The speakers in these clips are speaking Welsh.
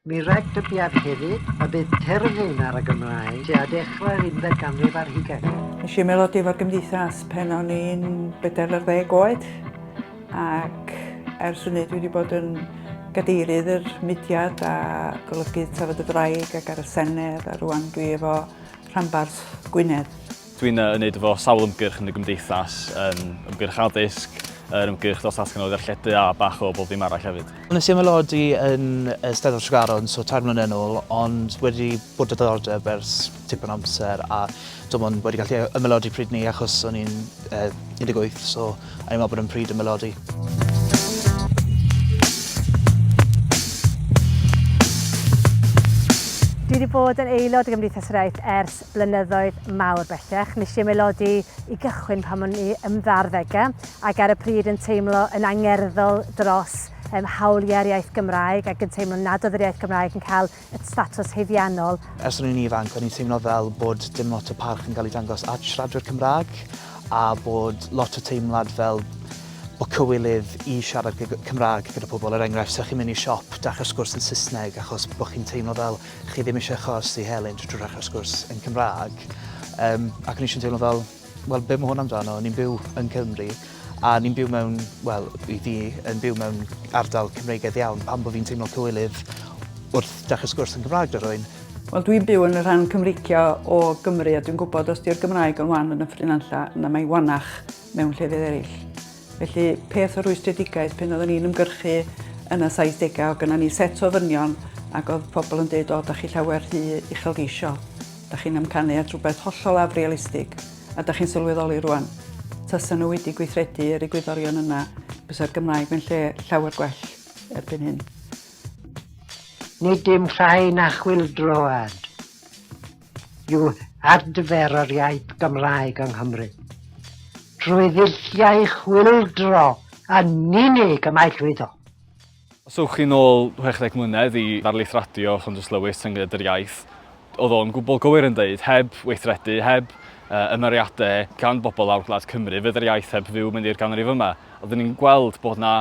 Mi rhaid dybied hefyd y bydd terfyn ar y Gymraeg tua dechrau'r unfed ganrif ar hugain. Nes i ymaelodi efo'r Gymdeithas pan o'n i'n bedair ar ddeg oed ac ers hynny dwi wedi bod yn gadeirydd yr mudiad a golygydd Tafod y Ddraig ac ar y Senedd a rwan dwi efo rhanbarth Gwynedd. Dwi'n yy wneud efo sawl ymgyrch yn y gymdeithas, yn ymgyrch addysg, yr ymgyrch dros ddatganoli ddarlledu a bach o bob ddim arall hefyd. Wnes i ymaelodi yn y Steddfod Tregaron so tair mlynedd yn ôl ond wedi bod â diddordeb ers tipyn o amser a dwi'm ond wedi gallu ymaelodi pryd 'ny achos o'n i'n yy 18 so o'n i'n meddwl bod e'n pryd ymaelodi. Dwi wedi bod yn aelod o Gymdeithas yr Iaith ers blynyddoedd mawr bellach. Nes i ymaelodi i gychwyn pan o'n i yn ddarddegau ac ar y pryd yn teimlo yn angerddol dros um, hawliau'r iaith Gymraeg ac yn teimlo nad oedd yr iaith Gymraeg yn cael y statws haeddiannol. Ers o'n i'n ifanc, o'n i'n teimlo fel bod dim lot o parch yn cael ei dangos at siaradwyr Cymraeg a bod lot o teimlad fel bod cywilydd i siarad Cymraeg gyda pobl. Er enghraifft, sa'ch chi'n mynd i siop, dachrau sgwrs yn Saesneg achos bod chi'n teimlo fel chi ddim eisiau achos i Helen trwy ddechrau sgwrs yn Cymraeg yym ac o'n i jyst yn teimlo fel wel be ma' hwn amdano ni'n byw yn Cymru a ni'n byw mewn wel i fi yn byw mewn ardal Cymreigaidd iawn pam bo' fi'n teimlo cywilydd wrth dechre sgwrs yn Gymraeg 'da rywun? Wel dwi'n byw yn y rhan Cymreictio o Gymru a dwi'n gwybod os 'di'r Gymraeg yn wan yn Nyffryn Nantlle na mae'n wanach mewn llefydd eryll. Felly, peth o rwystredigaeth pan oedden ni'n ymgyrchu yn y 70au, oedd gynna ni set o ddynion ac oedd pobl yn dweud, o, da chi llawer rhy uchelgeisiol, da chi'n amcanu at rhywbeth hollol afrealistig, a da chi'n sylweddoli rwan, tasa nhw wedi gweithredu yr egwyddorion yna, bysa'r Gymraeg mewn lle llawer gwell erbyn hyn. Nid dim llai na chwyldroad. yw adfer yr iaith Gymraeg yng Nghymru. Trwy ddulliau chwyldro yn unig y mae llwyddo. Os ewch chi'n ôl 60 mlynedd i ddarlith radio Llondus Lewis yn Gyd yr Iaith, oedd o'n gwbl gywir yn dweud, heb weithredu, heb uh, ymyriadau gan bobl lawr gwlad Cymru, fydd yr iaith heb fyw mynd i'r ganrif yma. Oeddwn ni'n gweld bod na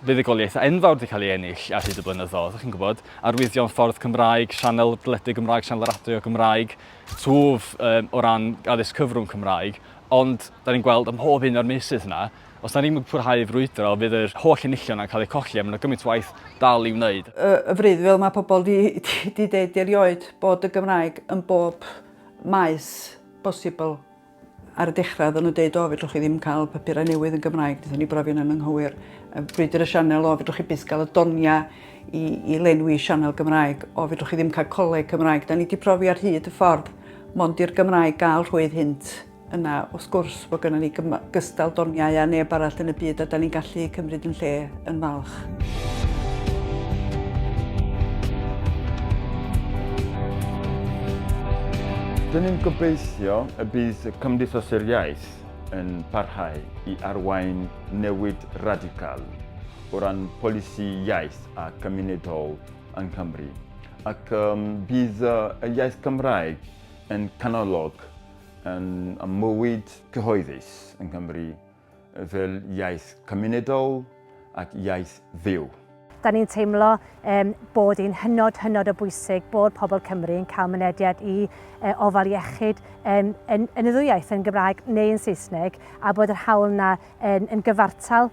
fuddugoliaeth enfawr wedi cael ei ennill ar hyd y blynyddoedd, chi'n gwybod, arwyddion ffordd Cymraeg, sianel deledu Gymraeg, sianel radio Gymraeg, twf um, o ran addysg cyfrwng Cymraeg, ond da ni'n gweld ym mhob un o'r meysydd yna, os da ni'n pwrhau frwydro, fydd yr holl enillion yna'n cael eu colli, a mae'n gymaint waith dal i'w wneud. Y, y fryd, fel mae pobl di, di, di deud erioed, bod y Gymraeg yn bob maes bosibl Ar y dechrau oedden nhw'n deud o fedrwch chi ddim cael papurau newydd yn Gymraeg, wnaethon ni brofi hynna'n anghywir. Brwydr y Sianel, o fedrwch chi byth gael y doniau i, i lenwi sianel Gymraeg, o fedrwch chi ddim cael coleg Cymraeg. Da ni wedi profi ar hyd y ffordd mond i'r Gymraeg gael rhwydd hynt yna wrth gwrs bod gennym ni gystal doniau a neb arall yn y byd a da ni'n gallu cymryd yn lle yn falch. Dyn ni'n gobeithio y bydd y Cymdeithasau'r Iaith yn parhau i arwain newid radical o ran polisi iaith a cymunedol yng Nghymru. Ac um, bydd y iaith Gymraeg yn canolog yn, ymwyd cyhoeddus yng Nghymru fel iaith cymunedol ac iaith fyw. Da ni'n teimlo um, bod hi'n hynod, hynod o bwysig bod pobl Cymru yn cael mynediad i uh, ofal iechyd um, yn, yn y ddwywaith, yn Gymraeg neu yn Saesneg, a bod yr hawl yna yn, yn gyfartal.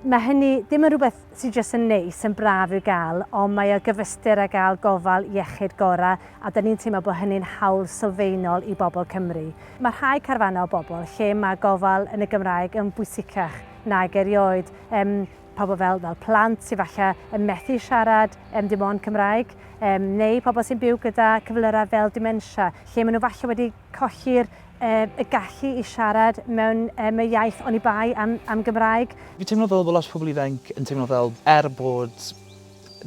Mae hynny ddim yn rhywbeth sy jyst yn neis, yn braf i'w gael, ond mae o gyfystyr â gael gofal iechyd gorau a 'da ni'n teimlo bod hynny'n hawl sylfaenol i bobl Cymru. Mae rhai carfannau o bobl lle mae gofal yn y Gymraeg yn bwysicach nag erioed, yym pobl fel fel plant sy falle yn methu siarad yym dim ond Cymraeg, yym neu pobl sy'n byw gyda cyflyrau fel dementia, lle maen nhw falle wedi Colli'r y gallu i siarad mewn y y iaith oni bai am am Gymraeg. Fi'n teimlo fel bod lot o pobl ifainc yn teimlo fel er bod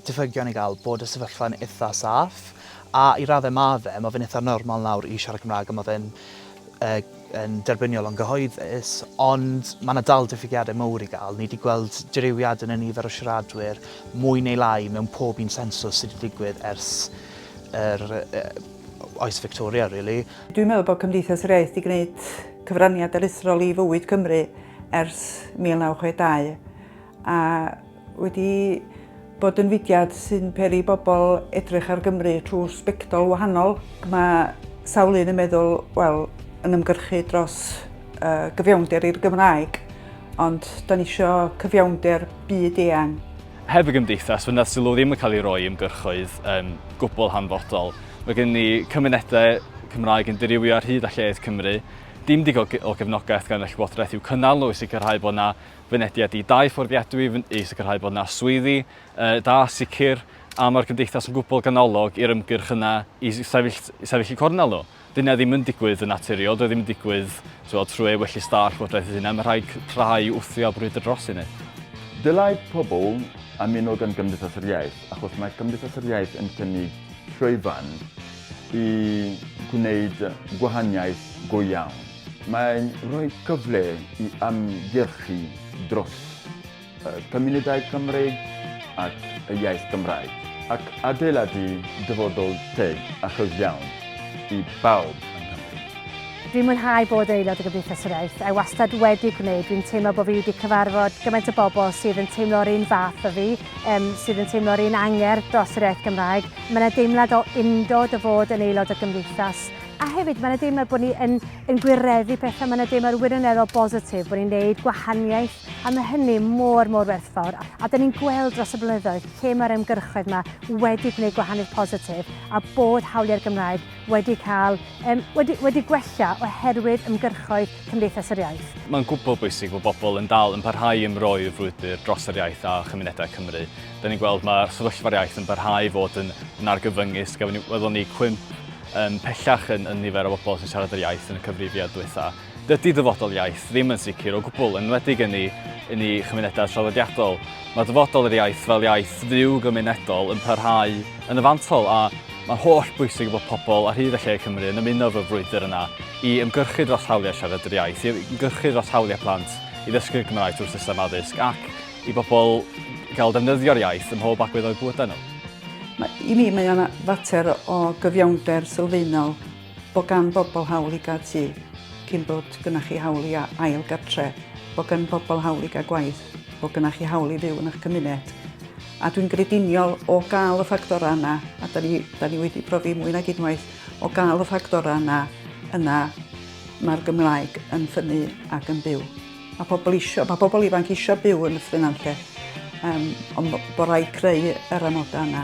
diffygion i gael bod y sefyllfa'n itha saff a i raddau ma' fe, ma' fe'n itha normal nawr i siarad Cymraeg a ma' fe'n y yn derbyniol o'n gyhoeddus ond ma' 'na dal diffygiadau mowr i gael, ni 'di gweld dirywiad yn y nifer o siaradwyr mwy neu lai mewn pob un sensws sy' 'di digwydd ers yr y Oes Victoria really. Dwi'n meddwl bod Cymdeithas yr Iaith 'di gwneud cyfraniad aruthrol i fywyd Cymru ers 1962 a wedi bod yn fudiad sy'n peri bobl edrych ar Gymru trwy sbectol wahanol. Mae sawl un yn meddwl, wel, yn ymgyrchu dros uh, gyfiawnder i'r Gymraeg, ond da ni eisiau cyfiawnder byd eang Heb y gymdeithas, fe wnaeth sylw ddim yn cael ei roi i ymgyrchoedd yn gwbl hanfodol. Mae gen ni cymunedau Cymraeg yn dirywio ar hyd a lled Cymru. Dim digon o gefnogaeth gan y Llywodraeth i'w cynnal nhw i sicrhau bod yna fynediad i dai fforddiadwy, i sicrhau bod yna swyddi uh, da, sicr, a mae'r cymdeithas yn gwbl ganolog i'r ymgyrch yna i sefyll, sefyll y cornel nhw. Dydy hynna ddim yn digwydd yn naturiol, doedd ddim yn digwydd tywod, trwy ei wellies da a'r Llywodraeth ei hunain, mae rhaid cryfhau, wthio a brwydro dros hynny. Dylai pobl ymuno gan Gymdeithas yr Iaith achos mae Cymdeithas yr Iaith yn cynnig llwyfan i gwneud gwahaniaeth go iawn. Mae'n rhoi cyfle i ymgyrchu dros. y cymunedau Cymreig ac y iaith Gymraeg, ac adeiladu dyfodol teg a chyfiawn i bawb yng Nghymru. Dwi'n mwynhau bod aelod o Gymdeithas yr Iaith, a wastad wedi gwneud, dwi'n teimlo bod fi wedi cyfarfod gymaint o bobl sydd yn teimlo'r un fath â fi, yym sydd yn teimlo'r un angerdd dros yr iaith Gymraeg, mae 'na deimlad o undod o fod yn aelod o Gymdeithas, a hefyd mae 'na deimlad bod ni yn yn gwireddu pethau, mae 'na deimlad wirioneddol bositif bod ni'n neud gwahaniaeth A mae hynny mor, mor werthfawr, a 'da ni'n gweld dros y blynyddoedd lle mae'r ymgyrchoedd 'ma wedi gwneud gwahaniaeth positif a bod hawliau'r Gymraeg wedi cael, yym, wedi, wedi gwella oherwydd ymgyrchoedd Cymdeithas yr Iaith. Mae'n gwbl bwysig bod pobl yn dal yn parhau i ymroi'r frwydr dros yr iaith a chymunedau Cymru. Da ni'n gweld mae sefyllfa'r iaith yn parhau i fod yn, yn argyfyngus. Gafon ni, welon ni cwymp um, pellach yn, yn nifer o bobl sy'n siarad yr iaith yn y cyfrifiad diwetha. Dydy dyfodol iaith ddim yn sicr o gwbl, yn enwedig yn ei, yn ei chymunedau traddodiadol. Mae dyfodol yr iaith fel iaith fyw gymunedol yn parhau yn y fantol a mae'n holl bwysig bod pobl ar hyd a lle Cymru yn ymuno fel frwydr yna i ymgyrchu dros hawliau siarad yr iaith, i ymgyrchu dros hawliau plant i ddysgu'r Gymraeg trwy'r system addysg ac i bobl gael defnyddio'r iaith ym mhob agwedd o'u bywydau nhw. Mae, I mi mae o'n fater o gyfiawnder sylfaenol. Bod gan bobl hawl i gael tŷ, cyn bod gynnach chi hawl i ail gartre, bod gan bobl hawl i gael gwaith, bod gynnach chi hawl i fyw yn eich cymuned. A dwi'n grediniol o gael y ffactorau yna, a da ni, da ni wedi profi mwy nag unwaith, o gael y ffactorau yna, yna mae'r Gymraeg yn ffynnu ac yn byw. Mae pobl isio, mae pobl ifanc isio byw yn y ffynanlle, um, ond bod rhaid creu yr amodau yna.